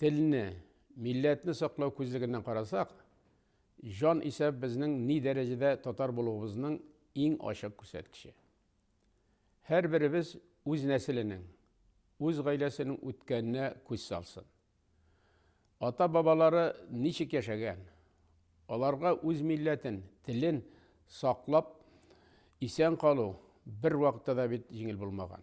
Телне, милләтне саклау күзлегеннән карасак, җан исәп безнең ни дәрәҗәдә татар булуыбызның иң ачык күрсәткече. Һәрберебез үз нәселенең, үз гаиләсенең үткәненә күз салсын. Ата-бабалары ничек яшәгән, аларга үз милләтен, телен саклап исән калу бервакытта да бит җиңел булмаган.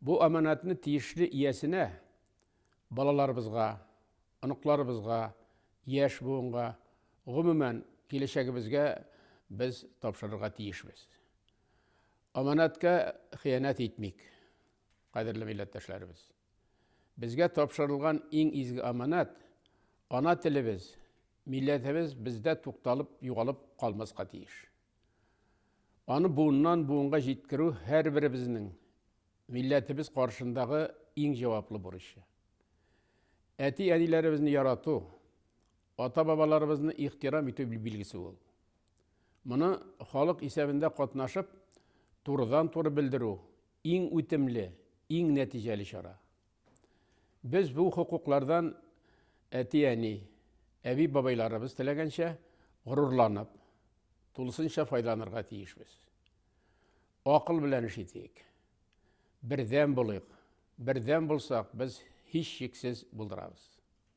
Бу аманатны тиешле иясенә, балаларыбызга, оныкларыбызга, яшь буынга, гомумән, киләчәгебезгә без тапшырырга тиешбез. Аманатка хыянәт итмик, кадерле милләттәшләребез. Безгә тапшырылган иң изге аманат ана телебез, милләтебез бездә тукталып, югалып калмаска тиеш. Аны буыннан буынга җиткерү һәрберебезнең милләтебез каршындагы иң җаваплы бурычы. Әти-әниләребезне ярату, ата-бабаларыбызны ихтирам итү билгесе ул. Моны халык исәбендә катнашып, турыдан-туры белдерү иң үтемле, иң нәтиҗәле чара. Без бу хокуклардан әти-әни, әби-бабайларыбыз теләгәнчә горурланып, тулысынча файдаланырга тиешбез. Акыл белән эш итик. Бердәм булыйк. Бердәм булсак, без һичшиксез булдырабыз.